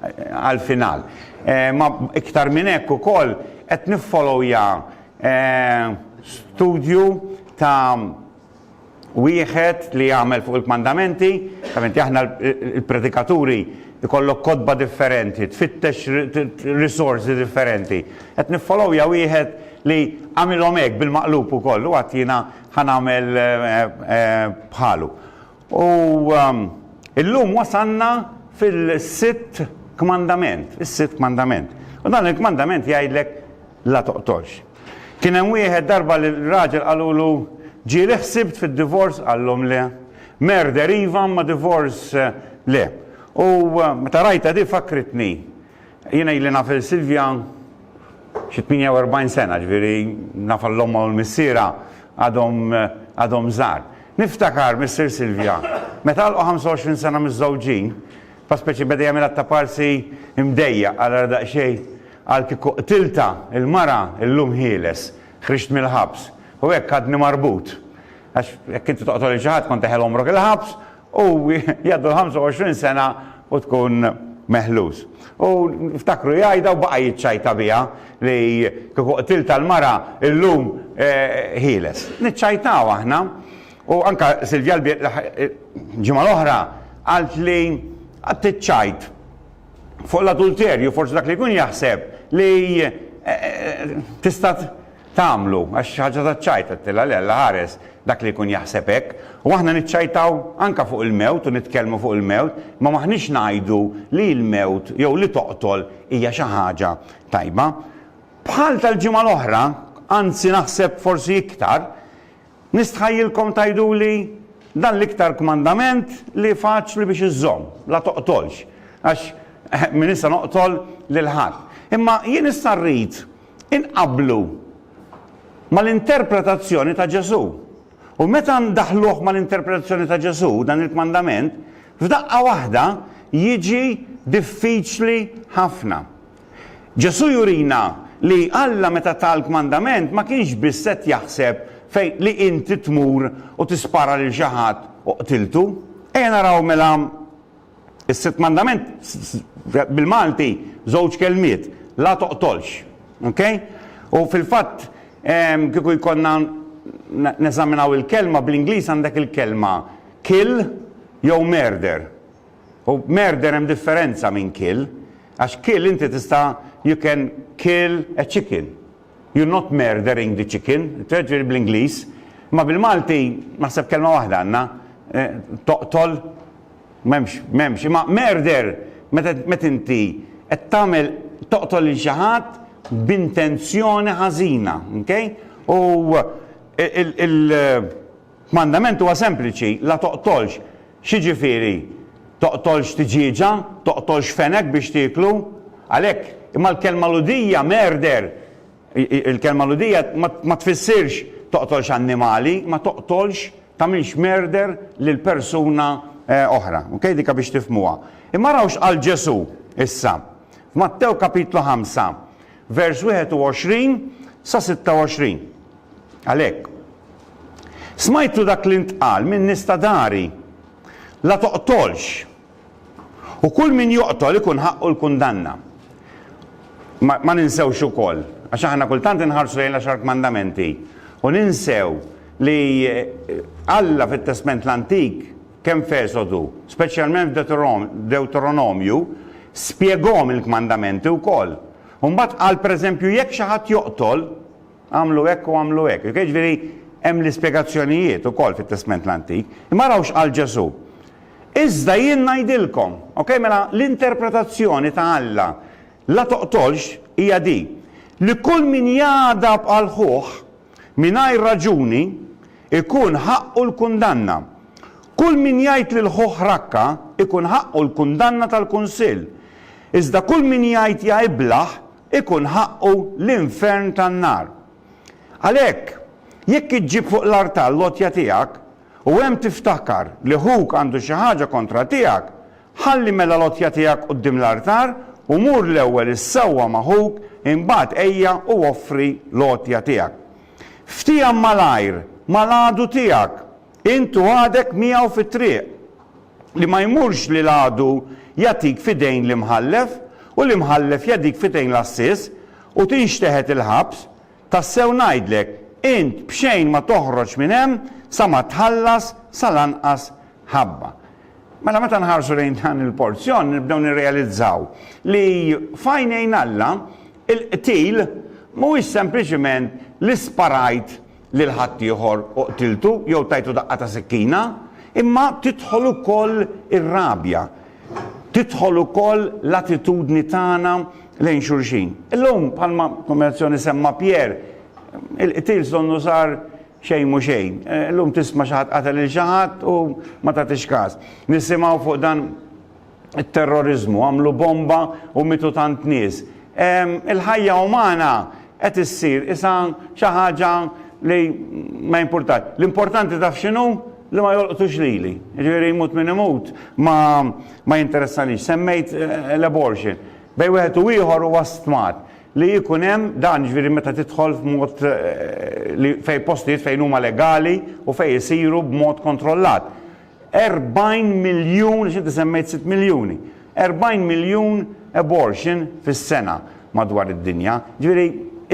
għall-final. Ma iktar minn hekk ukoll qed niffolowja studju ta' wieħed li għamel fuq il-kmandamenti, ovvjament aħna l-predikaturi ikollok kotba differenti, tfittex risorsi differenti. Qed niffolowja wieħed li għamilhom hekk bil-maqlub ukoll u għadt jiena ħa nagħmel bħalu. U illum wasalna fil-sitt kmandament, is-sitt kmandament. U dan il-kmandament jgħidlek la toqtolx. Kien hemm wieħed darba li raġel qalulu, Ġieli ħsibt fid-divorz? Qalhom le. Murder iva, imma divorz le. U meta rajtha din fakkritni Jiena ili naf lil Silvia xi 48 sena, ġifieri nafha l-ommha u l-missierha għadhom għadhom żgħar. Niftakar missier Silvia, meta għalqu 25 sena miżżewġin, fa' speċi beda jagħmilha ta' parsi mdejjaq, qal ara daqsxejn, qal kieku qtiltha l-mara illum ħieles, ħriġt mill-ħabs. U hekk għadni marbut. Għax jekk inti toqtol lil xi ħadd kont teħel għomrok il-ħabs U jgħaddu l-ħamsa u għoxrin sena u tkun meħlus. U niftakru jgħidha u baqa' jiċċajta biha li kieku qtiltha l-mara illum ħieles. Niċċajtaw aħna u anke Silvia l-ġimgħa l-oħra qalt li għad tiċċajt fuq l-adulterju forsi dak li jkun jaħseb li tista' tagħmlu, għax xi ħaġa taċ-ċajt, għedtilha le, Alla ħares dak li jkun jaħseb hekk. U aħna niċċajtaw anke fuq il-mewt u nitkellmu fuq il-mewt, imma m'aħniex ngħidu li l-mewt jew li toqtol hija xi ħaġa tajba. Bħal tal-ġimgħa l-oħra, anzi naħseb forsi iktar, Nistħajjilkom tgħiduli, Dan l-iktar kmandament li faċli biex iżżomm, La toqtolx, għax minn issa noqtol lil ħadd. Imma jien issa rrid inqabblu mal-interpretazzjoni ta' Ġesù. U meta ndaħħluh mal-interpretazzjoni ta' Ġesù, dan il-kmandament, f'daqqa waħda jiġi diffiċli ħafna. Ġesù jurina li Alla meta ta l-kmandament ma kienx biss qed jaħseb fejn li inti tmur u tispara lil xi ħadd u qtiltu. Ejja naraw mela is-sitt mandament bil-Malti żewġ kelmiet, la toqtolx. Ok? U fil-fatt kieku jkollna neżaminaw il-kelma bl-Ingliż għandek il-kelma kill jew murder. U murder hemm differenza minn kill. Għax kill inti tista' you can kill a chicken. You're not murdering the chicken. Jiġifieri bl-Ingliż. Imma bil-Malti naħseb kelma waħda għandna. Toqtol. M'hemmx, m'hemmx. Imma murder meta inti qed tagħmel toqtol lil xi ħadd b'intenzjoni ħażina. Okay? U il, il, Mandament huwa sempliċi, la toqtolx. X'jiġifieri? Toqtolx tiġieġa? Toqtolx fenek biex tieklu? Għalhekk, imma l-kelma Lhudija merder, il-kelma Lhudija ma tfissirx toqtolx annimali, imma toqtolx, tagħmilx merder lil persuna oħra. Ok, dik biex tifhmuha. Imma araw x'qal Ġesù issa. F'Mattew kapitlu ħamsa. vers. 21 sa 26 Għalhekk, smajtu dak li ntqal min-nies ta' dari, La toqtolx, u kull min joqtol ikun ħaqqu l-kundanna. Ma, ma ninsewx ukoll, għax aħna kultant inħarsu lejn l-għaxar kmandamenti u ninsew li Alla fit-Testment l-Antik kemm f'Esodu, speċjalment f'Dewteronomju, spjegahom il-kmandamenti wkoll. U mbagħad qal pereżempju jekk xi ħadd joqtol, agħmlu hekk u agħmlu hekk. Ok, jiġifieri hemm l-ispjegazzjonijiet ukoll fit-Testment l-Antik. Imma araw x'qal Ġesù. Iżda jien ngħidilkom, ok, mela l-interpretazzjoni ta' Alla, la toqtolx, hija din, li kull min jagħdab għal ħuh mingħajr raġuni, ikun ħaqqu l-kundanna. Kull min jgħid lil ħuh rakka, ikun ħaqqu l-kundanna tal-Kunsill. Iżda kull min jgħid ja iblah, ikun ħaqqu l-infern tan-nar. Għalhekk, jekk iġġib fuq l-artal l-għotja tiegħek, u hemm tiftakar li ħuk għandu xi ħaġa kontra tiegħek, Ħalli mela l-għotja tiegħek quddiem l-artar, u mur l-ewwel issewwa ma' ħuk, imbagħad ejja u offri l-għotja tiegħek. Ftiehem malajr mal-għadu tiegħek, int u għadek miegħu fit-triq, li ma jmurx li l-għadu jagħtik f'idejn l-imħallef, u l-imħallef jagħdik f'idejn l-għassies, u tinxteħet il-ħabs. Tassew ngħidlek, int b'xejn ma toħroġ minn hemm sa ma tħallas sal-anqas ħabba. Mela meta nħarsu lejn dan il-porzjon nibdew nirrealizzaw li f'għajnejn Alla il-qtil mhuwiex sempliċiment li sparajt lil ħaddieħor u qtiltu jew tajtu daqqa ta' sikkina, imma tidħol ukoll ir-rabja, tidħol ukoll l-attitudni tagħna lejn xulxin. Illum bħalma kombinazzjoni semma Pierre, il-qtil sonnu sar Xejn mhu xejn. Illum tisma' xi ħadd qatel lil xi ħadd u ma tagħtix każ. Nisimgħu fuq dan it-terroriżmu, għamlu bomba u mietu tant nies. Il-ħajja umana qed issir isha xi ħaġa li ma jimpurtax. L-importanti taf x'inhu? Li ma jolqtux lili. Jiġifieri jmut min imut ma jinteressanix. Semmejt l-abortion. Bejn wieħed u ieħor huwa stmat. Li jkun hemm dan, jiġifieri meta tidħol f'mod li fejn postijiet fejn huma legali u fejn isiru b'mod kontrollat. 40 miljun, għax inti semmejt sitt miljuni, 40 miljun abortion fis-sena madwar id-dinja. Jiġifieri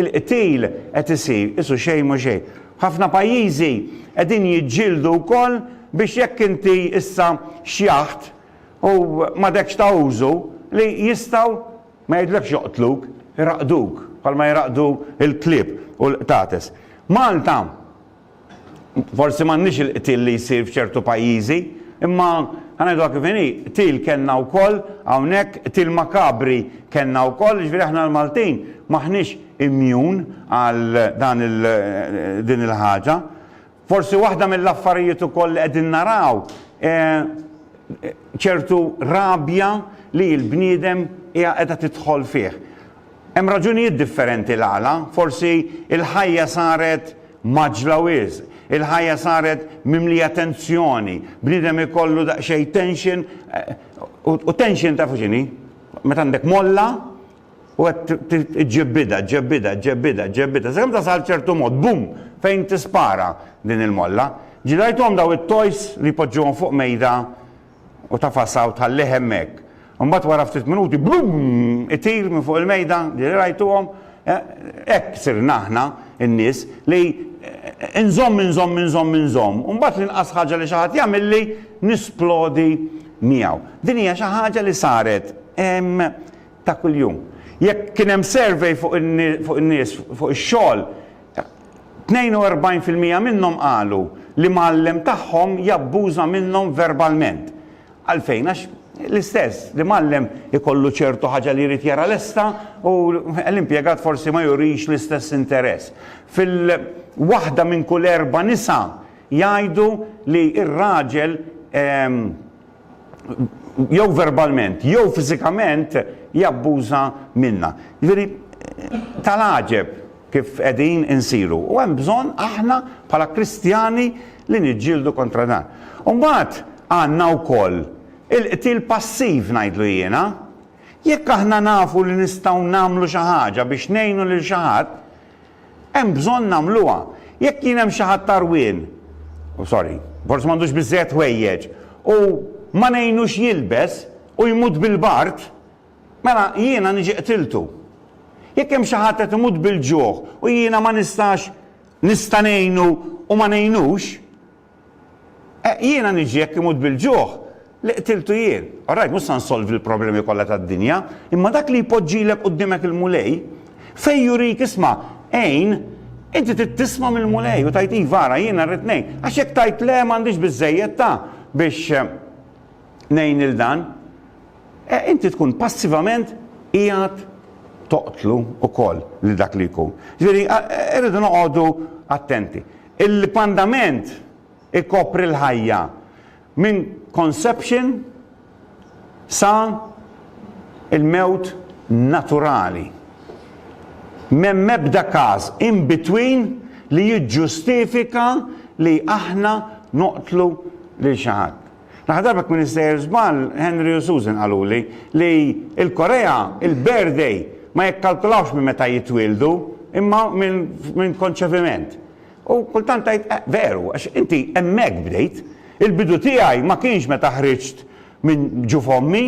l-qtil qed isir qisu xejn m'hu xejn. Ħafna pajjiżi qegħdin jiġġieldu wkoll biex jekk inti issa xjaħt u m'għadekx ta' użu li jistgħu Ma jgħidlekx joqtluk, iraqduk, bħalma jiraqdu l-klieb u l-qtates. Malta, forsi m'għandniex il-qtil li jsir f'ċertu pajjiżi, imma ħa ngħiduha kif inhi, qtil kellna wkoll hawnhekk, qtil makabri kellna wkoll, jiġifieri aħna l-Maltin m'aħniex immjun għal dan din il-ħaġa. Forsi waħda mill-affarijiet ukoll li qegħdin naraw hi ċertu rabja li l-bniedem hija qiegħda tidħol fih. Hemm raġunijiet differenti l-għala, forsi l-ħajja saret mgħaġġla wisq, il-ħajja saret mimlija tensjoni, bniedem ikollu daqsxejn tension u tension tafu x'inhi? Meta għandek molla, U qed iġġib bidgħa, ġġib bidgħa, ġġib bidgħa, ġġib bidgħa, sakemm tasal ċertu mod, bum, fejn tispara din il-molla. Ġieli rajthom dawn it-toys li jpoġġuhom fuq mejda u tafasha u tħallih hemmhekk. Imbagħad wara ftit minuti, bum, itir minn fuq il-mejda, ġieli rajtuhom? Hekk sirna aħna n-nies li inżomm, inżomm, inżomm, inżomm, u mbagħad l-inqas ħaġa li xi ħadd jagħmilli nisplodi miegħu. Din hija xi ħaġa li saret ta' kuljum. Jekk kien hemm survey fuq in-nies fuq ix-xogħol, 42% minnhom qalu li mgħallem tagħhom jabbuża minnhom verbalment. Għalfejn? Għax l-istess, l-imgħallem ikollu ċertu ħaġa li jrid jara lesta u l-impjegat forsi ma jurix l-istess interess. Fil-waħda minn kull erba' nisa jgħidu li r-raġel jew verbalment, jew fiżikament jabbuża minna. Jiġifieri tal-għaġeb kif qegħdin insiru. U hemm bżonn aħna bħala Kristjani li niġġieldu kontra dan. U mbagħad għandna wkoll il-qtil passiv ngħidlu jiena. Jekk aħna nafu li nistgħu nagħmlu xi ħaġa biex ngħinu lil xi ħadd, Hemm bżonn nagħmluha. Jekk kien hemm xi ħadd għarwien, u sorry, forsi m'għandux biżżejjed ħwejjeġ, u ma ngħinux jilbes, u jmut bil-bard, mela jiena niġi qtiltu. Jekk hemm xi ħadd qed imut bil-ġuħ u jiena ma nistax, nista' ngħinu u ma ngħinux, Eh, jiena niġi jekk imut bil-ġuħ li qtiltu jien. Orajt, mhux sa nsolvi l-problemi kollha tad-dinja, imma dak li jpoġġilek quddimek il-Mulej, fejn jurik isma' għin, inti trid tisma' mill-Mulej u tajt iva ara jiena rrid ngħin. Għax jekk tajt le m'għandix biżejjed ta' biex eh, ngħin il dan. E, inti tkun passivament qiegħed toqtlu ukoll li dak li jkun. Ġifieri, eh, irridu noqogħdu attenti. Il-pandament ikopri l-ħajja minn conception sa l-mewt naturali. M'hemm ebda każ in between li jiġġustifika li aħna noqtlu lil xi ħadd. L-aħħar darba kien issejjer żball, Henry u Susan qaluli li l-Korea il-birthday ma jikkalkulawx minn meta jitwieldu imma minn konċeviment. U kultant tgħid eh, veru, għax inti hemmhekk bdejt. Il-bidu tiegħi ma kienx meta ħriġt minn ġu f'ommi,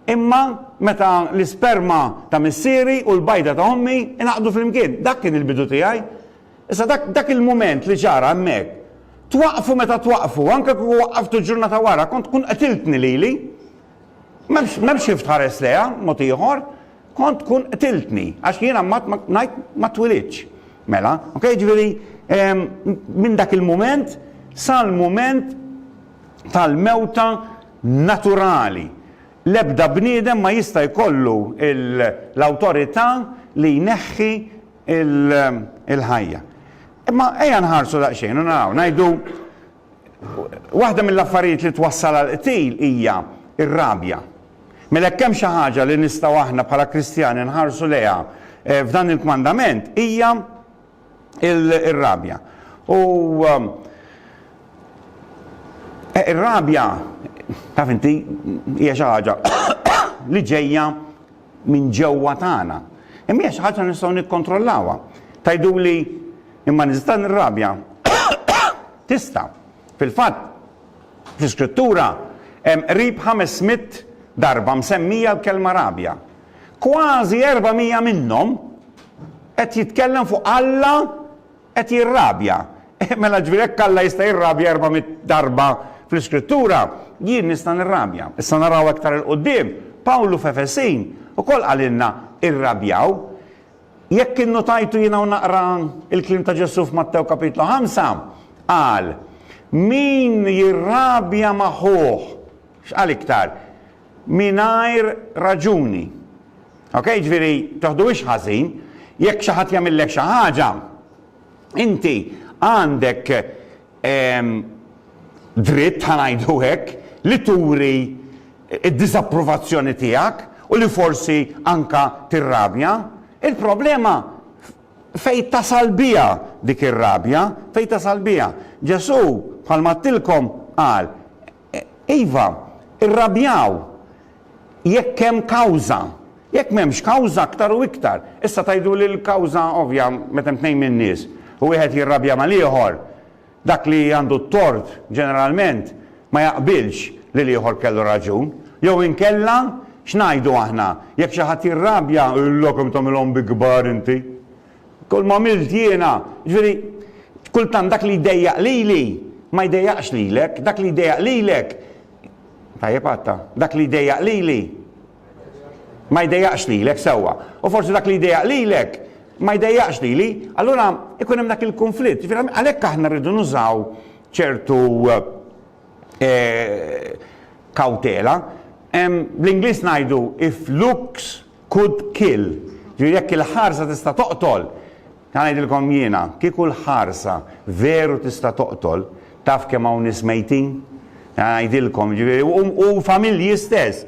imma meta l-isperma ta' missieri u l-bajda ta' ommi inaqdu flimkien. Dak kien il-bidu tiegħi. Issa dak, dak il-mument li ġara hemmhekk, twaqqfu meta twaqqfu, anke kieku waqqaftu ġurnata wara, kont tkun qtiltni lili. M'hemmx, m'hemmx kif tħares lejha mod ieħor, kont tkun qtiltni, għax jiena mbagħad ma, ngħid ma twilidtx. Mela, ok, jiġifieri, ehm, minn dak il-mument sal-mument tal-mewta naturali. L-ebda bniedem ma jista' jkollu l-awtorità li jneħħi il-ħajja. Imma ejja nħarsu daqsxejn u naraw, ngħidu waħda mill-affarijiet li twassal għal qtil hija r-rabja. Mela kemm xi ħaġa li nistgħu aħna bħala Kristjani nħarsu lejha eh, f'dan il-kmandament hija ir-rabja. U um, eh, ir-rabja taf inti hija xi ħaġa li ġejja minn ġewwa tagħna. Imma hija xi ħaġa li nistgħu nikkontrollawha. Tgħiduli, imma nista' nirrabja? Tista'. Fil-fatt, fl-Iskrittura hemm qrib ħames mitt darba msemmija l-kelma rabja. Kważi erba' mija minnhom qed jitkellem fuq Alla qed jirrabja. Eh, mela ġifieri jekk Alla jista' jirrabja erba' mitt darba fl-Iskrittura, jien nista' nirrabja. Issa naraw aktar 'il quddiem, Pawlu f'Efesin ukoll qalilna irrabjaw. Jekk innutajtu jiena hawn naqra l-kliem ta' Ġesù f'Mattew Kapitlu ħamsa, qal, Min jirrabja ma' ħuh, x'qal iktar? Mingħajr raġuni. Ok, ġifieri toħduhiex ħażin, jekk xi ħadd jagħmillek xi ħaġa, inti għandek ehm, dritt ħa ngħidu hekk li turi d-diżapprovazzjoni tiegħek u li forsi anka tirrabja. Il-problema fej tasal biha dik ir-rabja, fej tasal biha. Ġesu bħalma tilkom qal, Iva, irrabjaw jekk hemm kawża. Jekk m'hemmx kawża aktar u iktar. Issa tgħiduli li l-kawża ovvja meta hemm tnejn min-nies u wieħed jirrabja mal-ieħor, dak li għandu t-tort ġeneralment ma jaqbilx li l-ieħor kellu raġun. Jew inkella x'ngħidu aħna jekk xi ħadd jirrabja u jgħidlok kemm tagħmilhom bi kbar inti? Kull m'għamilt jiena, jiġifieri, kultant dak li jdejjaq lili ma jdejjaqx lilek, dak li jdejjaq lilek, tajjeb għadta, dak li jdejjaq lili ma jdejjaqx lilek, sewwa, u forsi dak li jdejjaq lilek ma jdejjaqx lili, allura ikun hemm dak il-kunflitt. Jiġifieri għalhekk aħna rridu nużaw ċertu eh, kawtela. Bl-Ingliż ngħidu if looks Could kill, ġifieri jekk il-ħarsa tista' toqtol, ħa ngħidilkom jiena, kieku l-ħarsa veru tista' toqtol, taf kemm hawn nies mejtin? Ħa ngħidilkom, ġifieri, u familji stess,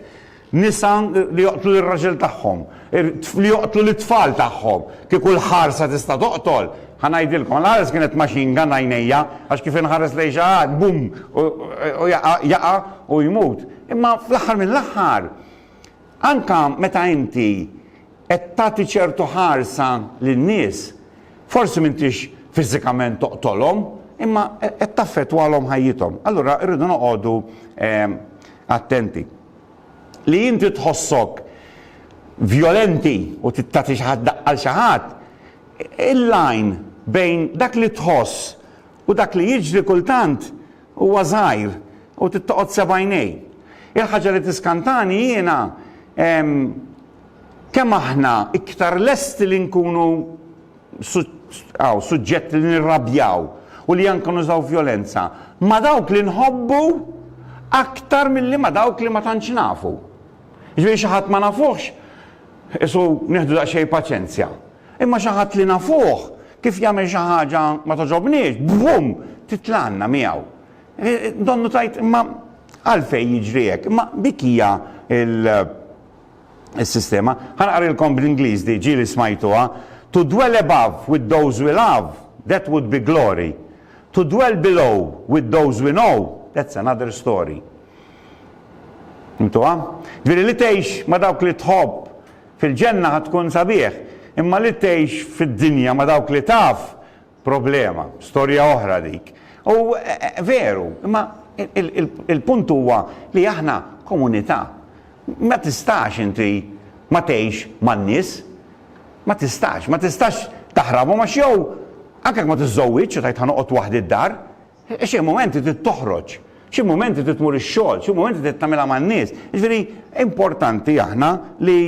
nisa li joqtlu lir-raġel tagħhom, li joqtlu lit-tfal tagħhom, kieku l-ħarsa tista' toqtol, ħa ngħidilkom, l-ħares kienet machine gun għajnejja, għax kif inħares lejn xi ħadd, bum, u jaqa' u jmut. Imma fl-aħħar mill-aħħar, Anke meta inti qed tagħti ċertu ħarsa lin-nies, forsi m'intix fiżikament toqtolhom, imma qed taffettwalhom ħajjithom. Allura rridu noqogħdu attenti. Li inti tħossok vjolenti u tagħti xi ħadd daqqa 'l xi ħadd, il-lajn bejn dak li tħoss U dak li jiġri kultant huwa żgħir u trid toqgħod seb'għajnej. Il-ħaġa li tiskantani jiena kemm aħna iktar lesti li nkunu suġġett li nirrabjaw u li anke nużaw vjolenza ma' dawk li nħobbu aktar milli ma' dawk li ma tantx nafu. Jiġifieri xi ħadd ma nafuhx, qisu nieħdu daqsxejn paċenzja. Imma xi ħadd li nafuh, kif jagħmel xi ħaġa ma togħġobniex, brum! titlagħna miegħu. Donnu tgħid, imma għalfejn jiġri hekk? Imma dik hija l-sistema. Ħa naqrilkom bl-Ingliż di, ġieli smajtuha, To dwell above with those we love, that would be glory. To dwell below with those we know, that's another story. Fimtuha? Ġifieri li tgħix ma' dawk li tħobb Fil-ġenna ħa tkun sabiħ, imma li tgħix fid-dinja ma' dawk li taf, problema, storja oħra dik. U veru, imma il-punt huwa li aħna komunità. Ma tistax inti ma tgħix man-nies. Ma tistax, ma tistax taħrabhom għax jew anke jekk ma tiżżowwiġx u tgħid ħa noqgħod waħdi d-dar, Xi mumenti trid toħroġ, xi mumenti trid tmur ix-xogħol, xi mumenti trid tagħmilha man-nies. Jiġifieri importanti aħna li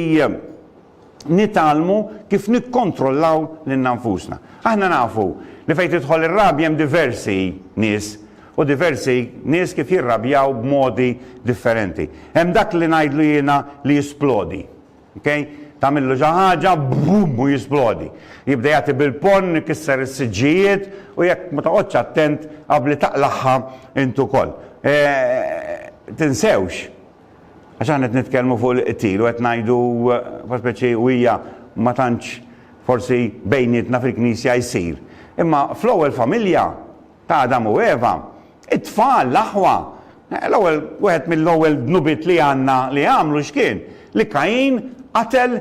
nitgħallmu kif nikkontrollaw lilna nfusna. Aħna nafu li fejn tidħol ir-rabja hemm diversi nies u diversi nies kif jirrabjaw b'modi differenti. Hemm dak li ngħidlu jiena li jisplodi. Ok? Tagħmillu xi ħaġa, bum, u jisplodi. Jibda jagħti bil-ponn, ikisser is-siġġijiet u jekk ma toqgħodx attent qabli taqlagħha int ukoll. E, tinsewx, għax aħna qed nitkellmu fuq il-qtil u qed ngħidu eh, speċi u hija ma tantx forsi bejnietna fil-knisja jsir. Imma fl-ewwel familja ta' Adam u Eva, it-tfal, l-aħwa, l-ewwel wieħed mill-ewwel dnubiet li għandna li għamlu x'kien? Li Kajin qatel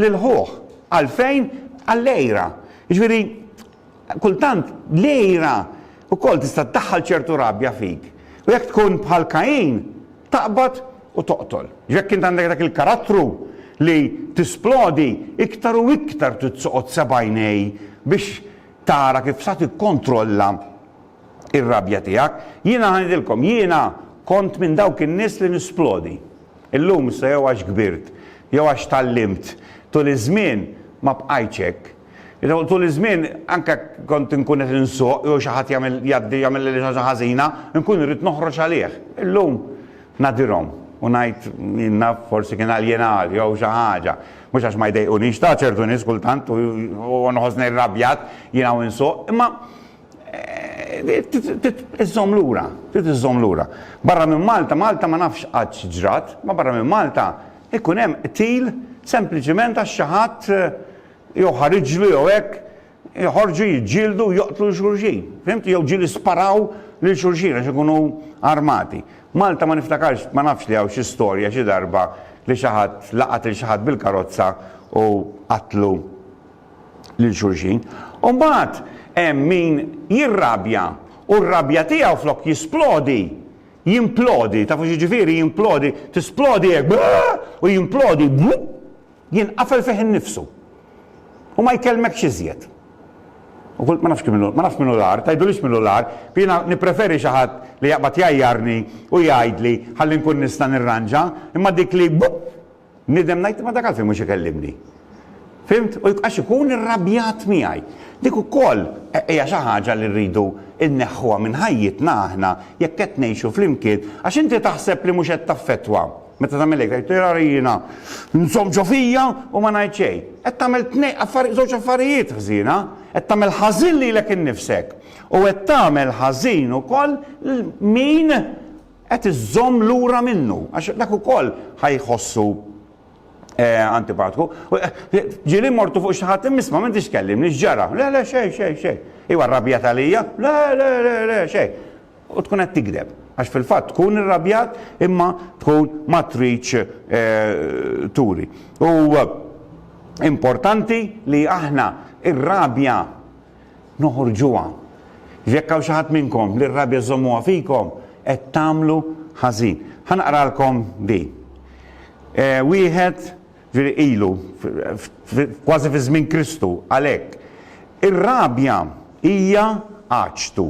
lil ħuh. Għalfejn? Għall-għira. Jiġifieri kultant l-għira wkoll tista' ddaħħal ċertu rabja fik. U jekk tkun bħal Kajin, taqbad u toqtol. Jekk int għandek dak il-karattru li tisplodi iktar u iktar titsoqgħod sebgħinej biex tara kif sa tikkontrolla r-rabja tiegħek. Jiena ħa ngħidilkom, jiena kont minn dawk in-nies li nisplodi. Illum issa jew għax kbirt, jew għax tgħallimt, tul iż-żmien ma bqajtx hekk. Tul iż-żmien anke kont inkun qed insuq jew xi ħadd jagħmel jgħaddi jagħmilli xi ħaġa ħażina, inkun irrid noħroġ għalih. Illum nadirhom u ngħid, jien naf forsi kien għal jien għal jew xi ħaġa. Mhux għax ma jdejqunix, ta' ċertu nies kultant u nħossni rrabjat jien hawn insuq, imma iżżomm lura, trid iżżomm lura. Barra minn Malta, Malta ma nafx qatt x'ġrat, ma barra minn Malta jkun hemm qtil sempliċiment għax xi ħadd jew ħariġlu jew hekk joħorġu jiġġieldu u joqtlu lil xulxin. Fimtu? Jew ġieli sparaw lil xulxin għax ikunu armati. Malta ma niftakarx, ma nafx li hawn xi storja xi darba li xi ħadd laqat lil xi ħadd bil-karozza u qatlu lil xulxin. U mbagħad hemm min jirrabja u r-rabja tiegħu flok jisplodi, jimplodi, tafu x'jiġifieri jimplodi, tisplodi hekk u jimplodi, Jinqafel fih innifsu. U ma jkellmekx iżjed. U qult ma nafx kemm ilu, ma nafx min hu l-agħar, tgħidulix min hu l-agħar, jiena nippreferi xi ħadd li jaqbad jgħajjarni u jgħidli ħalli nkun nista' nirranġa, imma dik li bupp! Nidem ngħid imma dak għalfejn mhux ikellimni? Fhimt? U għax ikun irrabjat miegħi. Dik ukoll hija xi ħaġa li rridu nneħħuha minn ħajjitna aħna jekk qed ngħixu flimkien għax inti taħseb li mhux qed taffettwa. Meta tagħmel hekk tgħid tara li jiena nżomm ġo fija u ma ngħid xejn. Qed tagħmel tnejn affarijiet żewġ affarijiet ħżiena, qed tagħmel ħażin lilek innifsek u qed tagħmel ħażin ukoll lil min qed iżżomm lura minnu għax dak ukoll ħa jħossu antipatku. Ġieli mortu fuq xi ħadd immisma m'intix tkellimni x'ġara. Le le xejn xejn xejn. Iwa rrabjat għalija? Le le le le xejn. u tkun qed tigdeb għax fil-fatt tkun irrabjat imma tkun ma tridx turi. U importanti li aħna ir-rabja noħorġuha. Jekk hawn xi ħadd minnkom li r-rabja żommuha fikom qed tagħmlu ħażin. Ħa naqralkom din. Wieħed Ġifieri ilu, kważi fi żmien Kristu, għalhekk. Ir-rabja hija għaġtu.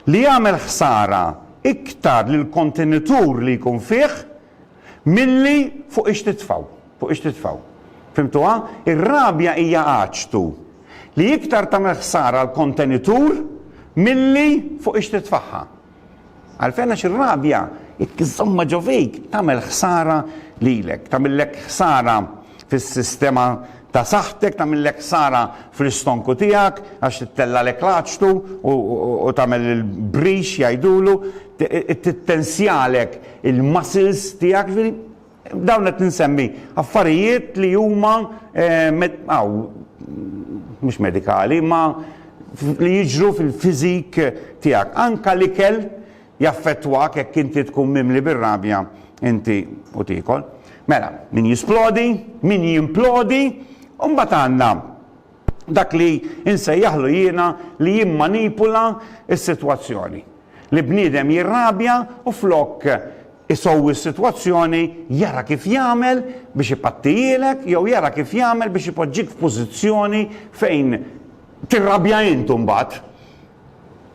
Li jagħmel ħsara iktar lill-kontenitur li jkun fih milli fuq ix-titfgħu, fuq ix-titfgħu. Fhimtuha? Ir-rabja hija għaġtu li iktar tagħmel ħsara għall-kontenitur milli fuq ix-titfgħha. Għalfejn? Għax ir-rabja, jekk iżżommha ġo fik, tagħmel ħsara lilek. Tagħmillek ħsara fis-sistema ta' saħħtek, tagħmillek ħsara fl-istonku tiegħek għax tittellgħalek l-għaġtu u tagħmel il-brix jgħidulu, tittensjalek il-muscles tiegħek, jiġifieri, B'dawn qed insemmi affarijiet li huma mhux medikali, imma li jiġru fil-fiżik tiegħek. Anke l-ikel jaffettwak jekk inti tkun mimli bir-rabja inti u tiekol. Mela, min jisplodi, min jimplodi, u mbagħad għandna dak li nsejjaħlu jiena li jimmanipula s-sitwazzjoni. Li bniedem jirrabja u flok isowwi s-sitwazzjoni jara kif jagħmel biex ipattijilek jew jara kif jagħmel biex ipoġġik f'pożizzjoni fejn tirrabja int imbagħad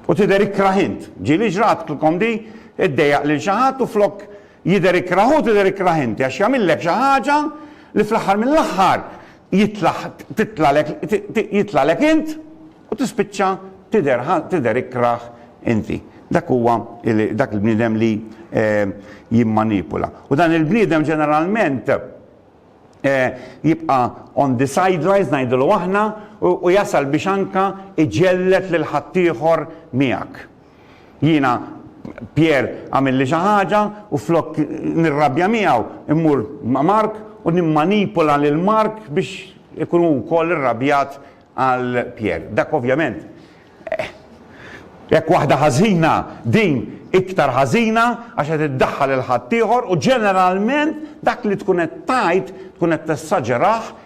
u tidher ikrah int. Ġieli ġratlkom di? Iddejjaq lil xi ħadd u flok jidher ikrah hu tidher ikrah inti għax jagħmillek xi ħaġa li fl-aħħar mill-aħħar jitlaħ titlalek jitlagħlek int u tispiċċa tidher tidher ikrah inti. Dak huwa dak il-bniedem li jimmanipula. U dan il-bniedem ġeneralment jibqa' on the sidelines ngħidulu aħna u jasal biex anka iġelled lil ħaddieħor miegħek. Jiena, Pierre, għamilli xi ħaġa u flok nirrabja miegħu, immur ma' Mark u nimmanipula lil Mark biex ikun hu wkoll irrabjat għal Pierre. Dak ovvjament, eh, jekk waħda ħażina, din iktar ħażina għax qed iddaħħal 'il ħaddieħor u ġeneralment dak li tkun qed tgħid tkun qed tessaġerah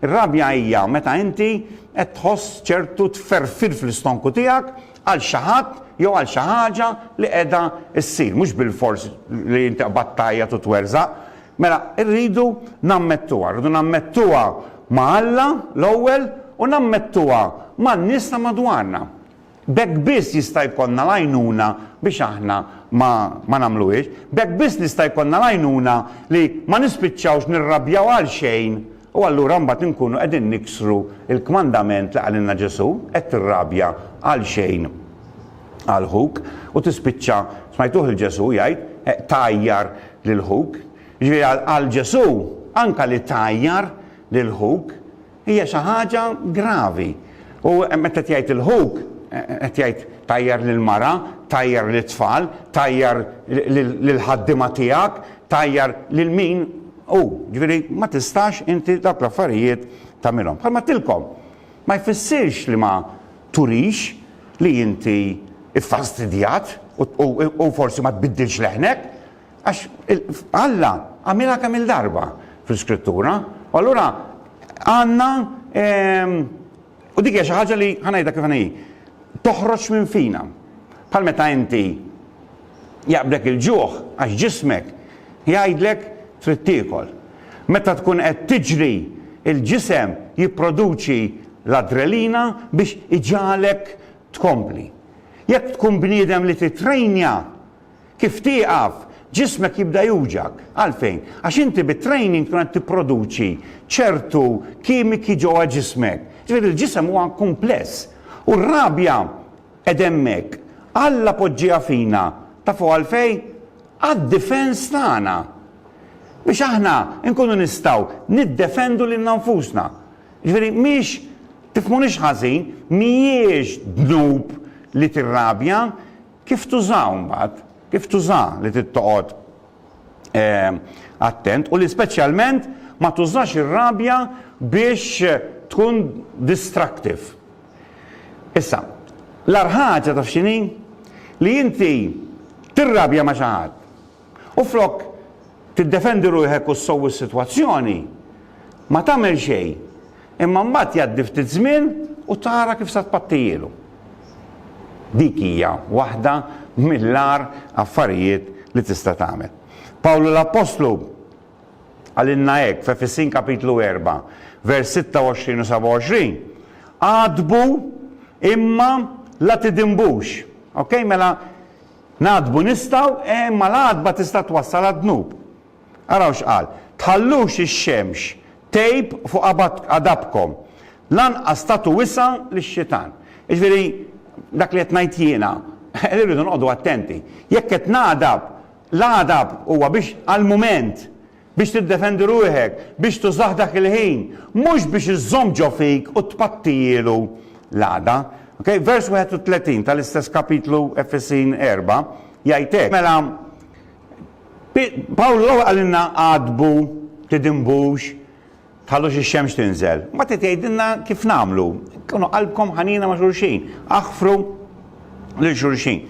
Ir-rabja hija meta inti qed tħoss ċertu tferfir fl-istonku tiegħek għal xi ħadd jew għal xi ħaġa li qiegħda ssir, mhux bilfors li inti qbadt tgħajjat u twerżaq. Mela, irridu nammettuha, rridu nammettuha ma' Alla l-ewwel u nammettuha man-nies ta' madwarna. B'hekk biss jista' jkollna l-għajnuna biex aħna ma ma nagħmluhiex. B'hekk biss nista' jkollna l-għajnuna li ma nispiċċawx nirrabjaw għalxejn u allura mbagħad inkunu qegħdin niksru l-kmandament li qalilna Ġesù, hekk tirrabja għalxejn għal ħuk u tispiċċa, smajtuh lil Ġesù jgħid, tgħajjar lil ħuk. Jiġifieri għal Ġesù anke li tgħajjar lil ħuk Hija xi ħaġa gravi. U meta qed jgħid il-ħuk, qed jgħid tajjar lill-mara, tajjar lit-tfal, tajjar lill-ħaddiema tiegħek, tajjar lil min hu. Ġifieri ma tistax inti dawk l-affarijiet tagħmilhom. Bħalma għedtilkom, ma jfissirx li ma turix li inti ffastidjat u forsi ma tbiddilx leħnek. Għax Alla għamilha kemm il-darba fl-Iskrittura, u allura għandna ehm, u dik hija xi ħaġa li ħanajda kif hi toħroġ minn fina. Bħal meta inti jaqblek il-ġuħ għax ġismek jgħidlek trid tiekol. Meta tkun qed tiġri il-ġisem jipproduċi l-adrelina biex iġalek tkompli. Jekk tkun bniedem li titrejnja Kif tieqaf, ġismek jibda juwġgħak. Għalfejn? Għax inti bit-training tkun qed tipproduċi ċertu kimiki ġewwa ġismek. Ġifieri l-ġisem huwa kumpless. U r-rabja qed hemmhekk. Alla poġġieha fina. Tafu għalfejn? Għad-difens tagħna. Biex aħna nkunu nistgħu niddefendu lilna nfusna. Ġifieri mhix, tifhmunix ħażin, mhijiex dnub li tirrabja, Kif tużaw mbagħad, kif tuża li trid toqgħod attent u li speċjalment ma tużax ir-rabja biex tkun distractive. Issa, l-agħar ħaġa taf x'inhi? Li inti tirrabja ma' xi ħadd U flok tiddefendi ruħek u ssowwi s-sitwazzjoni, ma tagħmel xejn, imma mbagħad jgħaddi ftit żmien u tara kif sa tpattijielu. Dik hija waħda mill-agħar affarijiet li tista' tagħmel. Pawlu l-appostlu qalilna hekk f'Efesin kapitlu erba', vers 26 u 27, Għadbu imma la tidinbux. Ok, mela Nagħdbu nistgħu, e imma l-għadba tista' twassal għad-dnub. Araw x'qal, Tħallux ix-xemx tgħib fuq għadabkom, lanqas tagħtu wisa' lix-Xitan. Jiġifieri, dak li qed ngħid jiena, li rridu noqogħdu attenti. Jekk qed nagħdab, l-għadab huwa biex għall-mument Biex tiddefendi ruħek, biex tużah dak il-ħin, mhux biex iżżomm ġo fik u tpattijielu l-għada. Ok, vers 31 tal-istess kapitlu Efesin erbgħa jgħid hekk. Mela, Pawlu l-ewwel qalilna għadbu, tidinbux, Tħallux ix-xemx tinżel. Mbagħad qed jgħidilna kif nagħmlu. Kunu qalbkom ħanina ma' xulxin. Aħfru lil xulxin.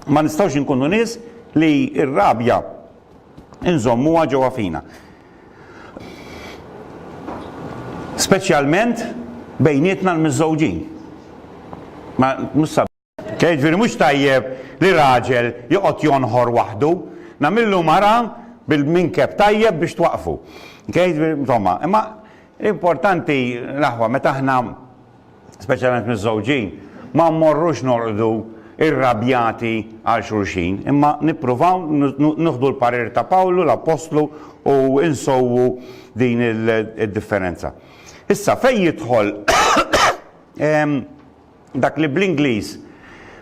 Ma nistgħux inkunu nies li r-rabja nżommuha ġewwa fina. Speċjalment bejnietna l-miżżewġin. Ma mhux Kif jiġifieri mhux tajjeb li raġel joqgħod jonħor waħdu? Nagħmillu mara bil-minkeb tajjeb biex twaqqfu. Kif jiġifieri, insomma, imma l-importanti l-aħwa meta aħna speċjalment miżżewġin ma mmorrux norqdu irrabjati għal xulxin, imma nippruvaw nieħdu l-parir ta' Pawlu l-Appostlu u nsewwu din id-differenza. Issa fejn jidħol Dak li bl-Ingliż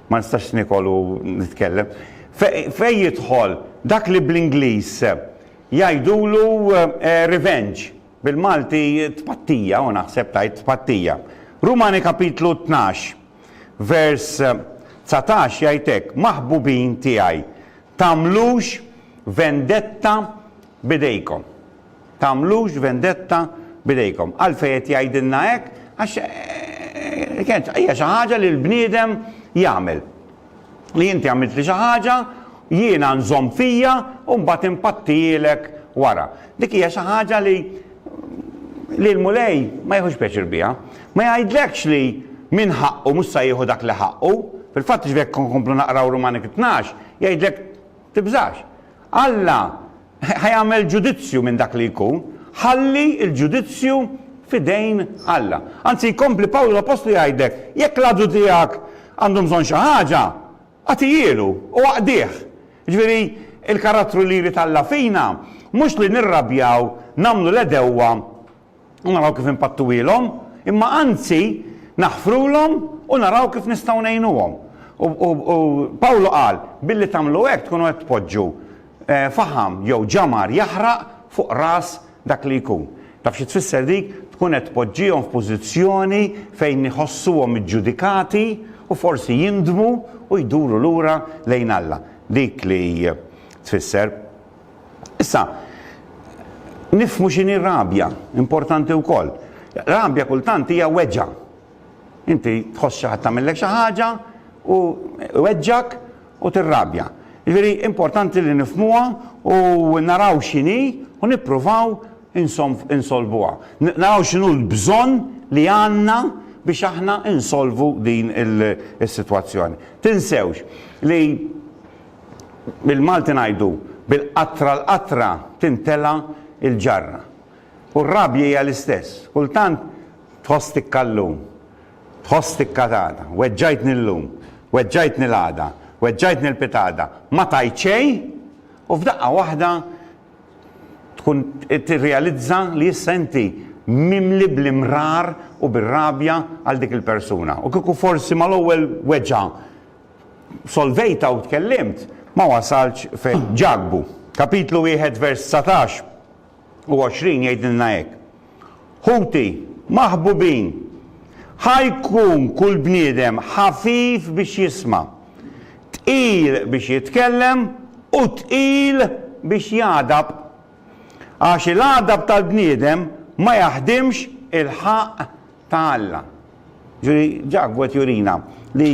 ma nistax nikol u nitkellem. Fejn jidħol dak li bl-Ingliż jgħidulu eh, revenge, bil-Malti tpattija, u naħseb tajt tpattija. Rumani kapitlu 12, vers 19 jgħidek, maħbubin tiegħi, tamlux vendetta bidejkom. Tagħmlux vendetta b'idejkom. Għalfejn qed jgħidilna hekk? Għax kienet hija xi ħaġa li l-bniedem jagħmel. Li inti għamiltli xi ħaġa, jiena nżomm fija u mbagħad inpattihielek wara. Dik hija xi ħaġa li li l-Mulej ma jieħux pjaċir biha. Ma jgħidlekx li min ħaqqu mhux se jieħu dak li ħaqqu. Fil-fatt ġvek nkomplu naqraw Rumani 12, jgħidlek tibżax. Alla Ħa jagħmel ġudizzju minn dak li jkun, ħalli l-ġudizzju f'idejn Alla. Anzi, jkompli Pawlu l-appostlu jgħidlek, jekk l-għadu tiegħek għandu bżonn xi ħaġa, agħtihielu u aqdih. Jiġifieri, il-karattru li jrid Alla fina mhux li nirrabjaw, nagħmlu l-għedewwa u naraw kif inpattuhielhom, imma anzi naħfrulhom u naraw kif nistgħu ngħinuhom. U Pawlu qal, Billi tagħmlu hekk tkunu qed tpoġġu faħam jew ġamar jaħraq fuq ras dak li jkun. Taf xi tfisser dik? Tkun qed tpoġġihom f'pożizzjoni fejn iħossuhom iġġudikati u forsi jindmu u jduru lura lejn Alla. Dik li tfisser. Issa, nifhmu x'inhi rabja, importanti wkoll. Rabja kultant hija weġgħa. Inti tħoss xi ħadd tagħmillek xi ħaġa u weġġak u tirrabja. Jiġifieri importanti li nifhmuha u naraw x'inhi u nippruvaw insolvuha. Naraw x'inhu l-bżonn li għandna biex aħna insolvu din is-sitwazzjoni. Tinsewx li Bil-Malti ngħidu, bil-qatra l-qatra timtela l-ġarra. U r-rabja hija l-istess. Kultant tħoss tikka llum, tħoss tikka għada. Weġġajtni llum, weġġajtni l-għada, weġġajtni l-pitgħada, ma tajt xejn, u f'daqqa waħda tkun tirrealizza li issa inti mimli bl-imrar u bir-rabja għal dik il-persuna. U kieku forsi mal-ewwel weġgħa solvejta u tkellimt, ma wasaltx fejn. Ġakbu, kapitlu wieħed vers dsatax u għoxrin jgħidilna hekk, Ħuti maħbubin, ħa jkun kull bniedem ħafif biex jisma', tqil biex jitkellem u tqil biex jagħdab. Għax il-għadab tal-bniedem ma jaħdimx il-ħaqq ta' Alla. Ġifieri Ġakbu qed jurina li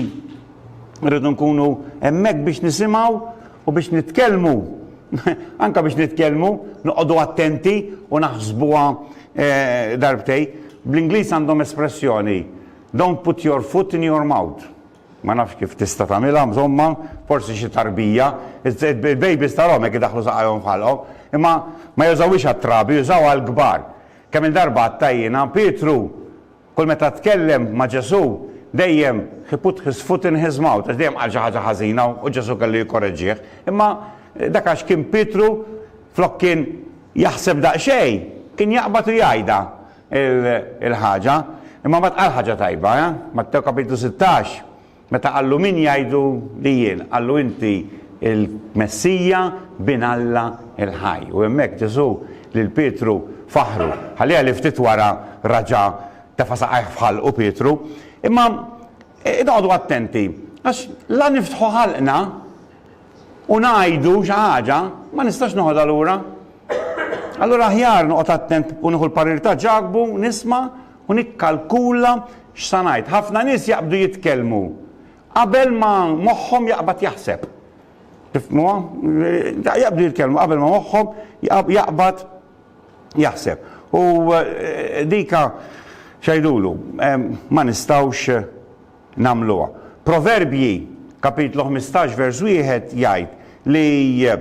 rridu nkunu hemmhekk biex nisimgħu u biex nitkellmu. Anke biex nitkellmu, noqogħdu attenti u naħsbuha eh, darbtej. Bl-Ingliż għandhom espressjoni, don't put your foot in your mouth. Ma nafx kif tista' tagħmilha, insomma, forsi xi tarbija, il-babies tal-hom hekk idaħlu saqajhom f'ħalqhom, imma ma jużawhiex għat-trabi, jużaw għall-kbar. Kemm-il darba għadtha jiena, Pietru, kull meta tkellem ma' Ġesù, dejjem he put his foot in his mouth, għax dejjem qal xi ħaġa ħażina u Ġesù kellu jikkoreġġih. Imma dak għax kien Pietru, flok kien jaħseb daqsxejn, kien jaqbad u jgħidha l-ħaġa. Imma mbagħad qal ħaġa tajba, eh? Mattew kapitlu sittax, Meta qallu Min jgħidu li jien? qallu Inti l-Messija, Bin Alla l-ħaj. U hemmhekk Ġesù lil Pietru faħħru. Ħalliha li ftit wara raġa' tefa' saqajh f'ħalqu Pietru. Imma noqogħdu attenti, għax la niftħu ħalqna u ngħidu xi ħaġa, ma nistax noħodha lura. Allura aħjar noqgħod attent u nieħu l-parir ta' Ġakbu, nisma' u nikkalkula x'sa ngħid. Ħafna nies jaqbdu jitkellmu qabel ma moħħhom jaqbad jaħseb. Tifhmuha? Jaqbdu jitkellmu qabel ma moħħhom jaqbad jaħseb. U eh, dika xajdulu, ma nistawx eh, namluwa. Proverbji, kapitlu 15 vers 1 jgħid li eh,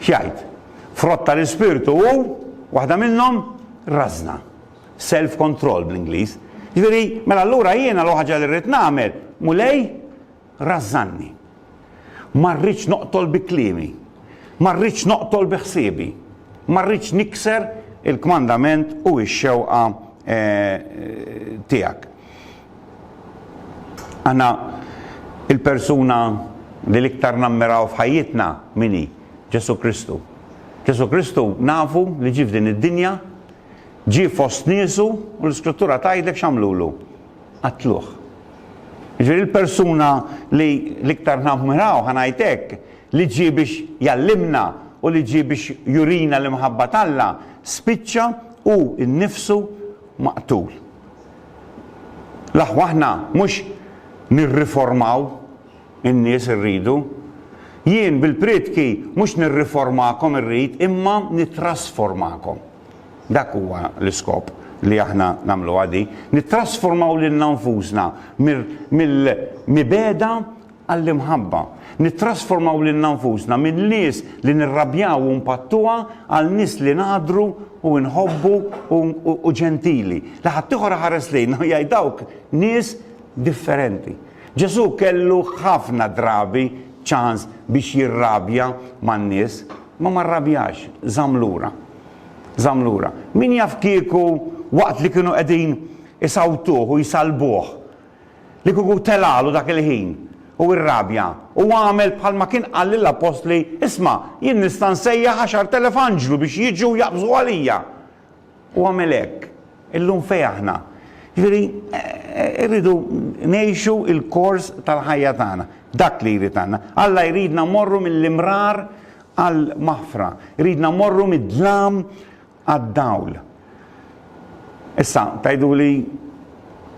X'jgħid? Frott ta' l-ispirtu hu, waħda minnhom, rażna. Self control bl-Ingliż. Ġifieri, mela allura jiena l-ħaġa li rrid nagħmel, Mulej, rażżanni. Ma rridx noqtol bi kliemi. Ma rridx noqtol bi ħsiebi. Ma rridx nikser il-kmandament u x-xewqa eh, tiegħek. Aħna il-persuna li l-iktar nammiraw f'ħajjitna min hi? Ġesù Kristu. Ġesù Kristu nafu li ġie f'din id-dinja, ġie fost niesu u l-Iskrittura tgħidlek x'għamlulu? Qatluh. Jiġifieri il-persuna li l-iktar nammiraw, ħa ngħid hekk, li ġie biex jgħallimna u li ġie biex jurina l-imħabba t'Alla, spiċċa hu nnifsu maqtul. L-aħwa aħna mhux nirriformaw in-nies irridu. Jien bil-priedki mhux nirriformakom irrid imma nittrasformakom. Dak huwa l-iskop li aħna nagħmluha di, nittrasformaw lilna nfusna mill-mibegħda għall-imħabba, nittrasformaw lilna nfusna minn nies li nirrabjaw u npattuha għal nies li ngħaddru u nħobbu u ġentili, li ħaddieħor iħares lejna u jgħid dawk nies differenti. Ġesù kellu ħafna drabi ċans biex jirrabja man-nies, imma ma rrabjax, żamm lura. Żamm lura. Min jaf kieku waqt li kienu qegħdin isawtuh u jsallbuh, Li kieku telagħlu dak il-ħin, u irrabja, u għamel bħalma kien qal lill-appostli, Isma', jien nista' nsejjaħ għaxart elef anġlu biex jiġu u jaqbżu għalija. U għamel hekk. Illum fejn aħna? Jiġifieri, irridu ngħixu l-kors tal-ħajja tagħna. Dak li jrid għandna. Alla jridna mmorru mill-imrar għall-maħfra. Iridna mmorru mid-dlam għad-dawl. Issa, tgħiduli,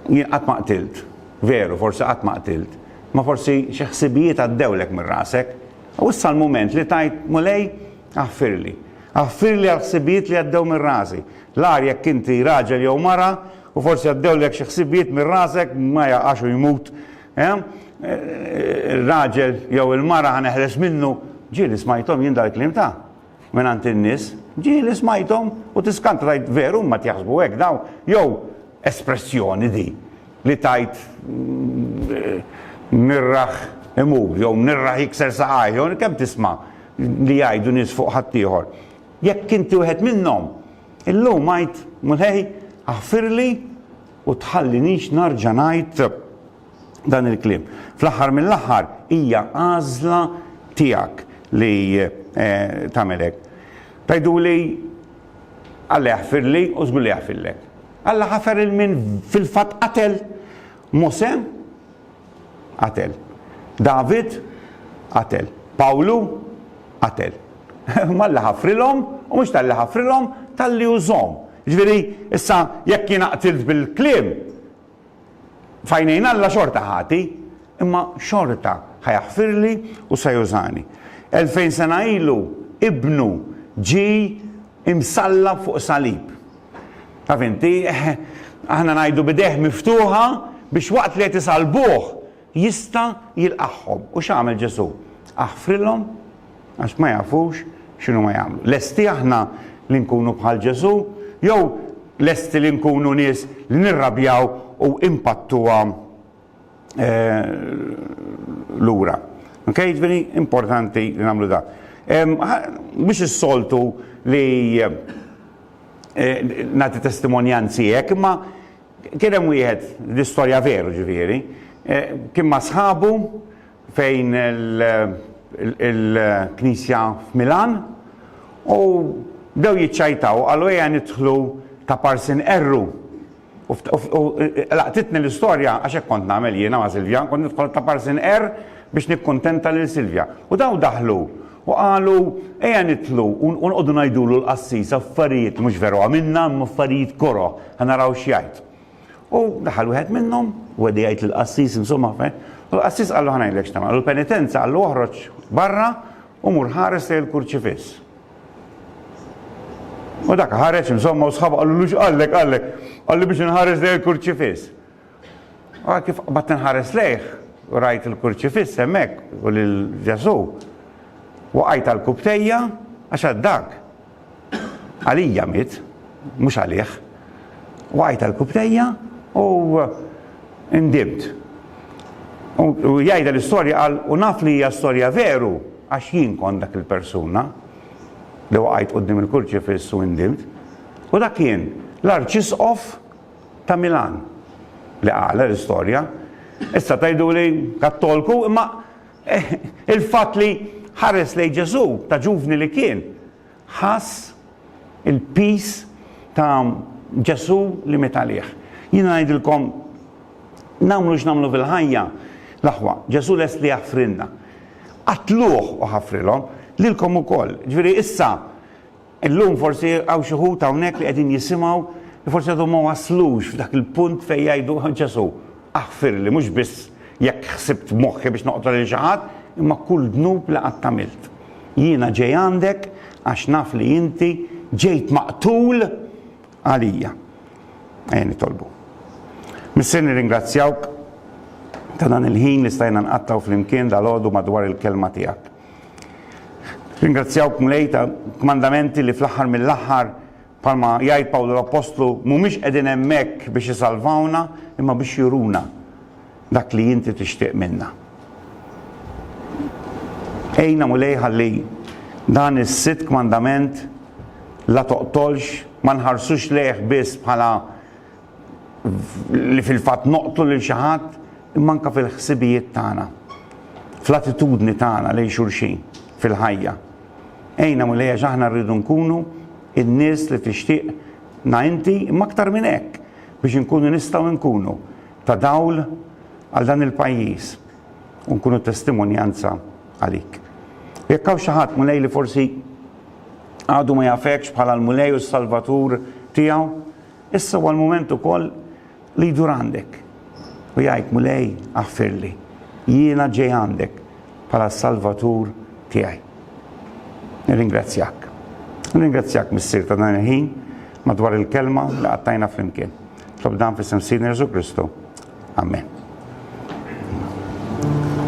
jien qatt ma qtilt. Veru, forsi qatt ma qtilt. Imma forsi xi ħsibijiet għaddewlek minn rasek. U issa l-mument li tgħid, Mulej, aħfirli. Aħfirli għall-ħsibijiet li għaddew minn rasi. L-agħar jekk inti raġel jew mara u forsi għaddewlek xi ħsibijiet minn rasek, ma jaqax u jmut, ir-raġel jew il-mara ħa neħles minnu. Ġieli smajthom jien dal-kliem ta'. Mingħand in-nies, ġieli smajthom u tiskant rajt veru huma qed jaħsbu hekk dawn jew espressjoni di li tgħid mnirraħ imur jew mnirraħ jikser saqajh jew kemm tisma' li jgħidu nies fuq ħaddieħor. Jekk inti wieħed minnhom, illum għid, Mulej, aħfirli u tħallinix narġa' ngħid dan il-kliem. Fl-aħħar mill-aħħar hija għażla tiegħek li tagħmel hekk. Tgħiduli Alla jaħfirli u żgur li jaħfirlek. Alla ħafer il min fil-fatt qatel Mose qatel. David qatel. Pawlu qatel. Malla ħafrilhom u mhux tal-li ħafrilhom tal-li użhom. Ġifieri, issa jekk jien qtilt bil-kliem, F'għajnejn Alla xorta ħati, imma xorta ħa jaħfirli u se jużani. Elfejn sena ilu Ibnu ġie msallab fuq salib. Taf inti, aħna ngħidu b'idejh miftuħa biex waqt li qed isallbuh Jista' jilqagħhom. U x'għamel Ġesù? Aħfrilhom għax ma jafux x'inhuma jagħmlu. Lesti aħna li nkunu bħal Ġesù, jew lesti li nkunu nies li nirrabjaw u impattuha lura? Ok, ġifieri importanti li nagħmlu dan. Mhux is-soltu li nagħti testimonjanzi hekk, imma Kien hemm wieħed, di storja veru ġifieri, kien ma' sħabu fejn il-knisja f'Milan u bdew jiċċajtaw qalu ejja nidħlu ta' parsin qerru u laqtitni l-istorja għax hekk kont nagħmel jiena ma' Silvja, kont nidħol ta' parsin qerr biex nikkuntenta lil Silvja. U dawn daħlu U qalu, Ejja nidħlu u nqogħdu ngħidulu l-qassis affarijiet, mhux veru għamilna, imma affarijiet koroh, ħa naraw x'jgħid. U daħal wieħed minnhom, u qegħdu jgħid lill-qassis, insomma, u l-qassis qallu, Ħa ngħidlek x'tagħmel, għamlu l-penitenza, qallu, Oħroġ barra u mur ħares lejn il-kurċifiss. U dak ħareġ, insomma, u sħabu qalulu, X'qallek, qallek? Qallu, Biex inħares lejn il-kurċifiss. Ara kif qbadt inħares lejh u rajt il-kurċifiss hemmhekk u lil Ġesù. Waqajt għal kubtejja għax għad dak. Għalija miet, mhux għalih. Waqajt għal kubtejja u indimt. U jgħidha l-istorja qal u naf li hija storja veru għax jien kont dak il-persuna li waqajt qudiem il-kurċifiss u indimt. U dak kien l-arċisqof Ta' Milan, li għala l-istorja? Issa tgħiduli Kattolku, imma il-fatt li ħares lejn Ġesù, ta' ġuvni li kien, ħass il-piż ta' Ġesù li miet għalih. Jiena ngħidilkom, nagħmlu x'nagħmlu fil-ħajja, l-aħwa, Ġesù lest li jaħfrilna. Qatluh u ħafrilhom, lilkom ukoll. Ġifieri issa Illum forsi hawn xi wħud hawnhekk li qegħdin jisimgħu li forsi għadhom ma waslux f'dak il-punt fejn jgħidu, Ġesù, aħfirli mhux biss jekk ħsibt f'moħħi biex noqtol lil xi ħadd, imma kull dnub li qatt għamilt. Jiena ġej għandek għax naf li inti ġejt maqtul għalija. Ejja nitolbu. Missier nirringrazzjawk ta' dan il-ħin li stajna nqattgħu flimkien dalgħodu madwar il-Kelma tiegħek. Ringrazzjawk, Mulej, ta' kmandamenti li fl-aħħar mill-aħħar, bħalma jgħid Pawlu l-appostlu, mhumiex qegħdin hemmhekk biex isalvawna, imma biex juruna dak li inti tixtieq minna. Għinna, Mulej, ħalli dan is-sitt kmandament la toqtolx, ma nħarsux lejh biss bħala li fil-fatt noqtlu lil xi ħadd, imma anke fil-ħsibijiet tagħna, fl-attitudni tagħna lejn xulxin fil-ħajja. Għinna Mulej għax aħna rridu nkunu in-nies li tixtieq na inti, imma aktar minn hekk biex inkunu nistgħu nkunu ta' dawl għal dan il-pajjiż u nkunu testimonjanza għalik. U jekk hawn xi ħadd mulej li forsi għadu ma jafekx bħala l-Mulej u s-Salvatur tiegħu, Issa huwa l-mument ukoll li jdur għandek u jgħid, Mulej, aħfirli, jiena ġej għandek bħala Salvatur tiegħi. Nirringrazzjak. Nirringrazzjak missier ta' dan il-ħin madwar il-kelma li qattajna flimkien. Tlob dan fis-sem Sidni Jesu Kristu. Amen.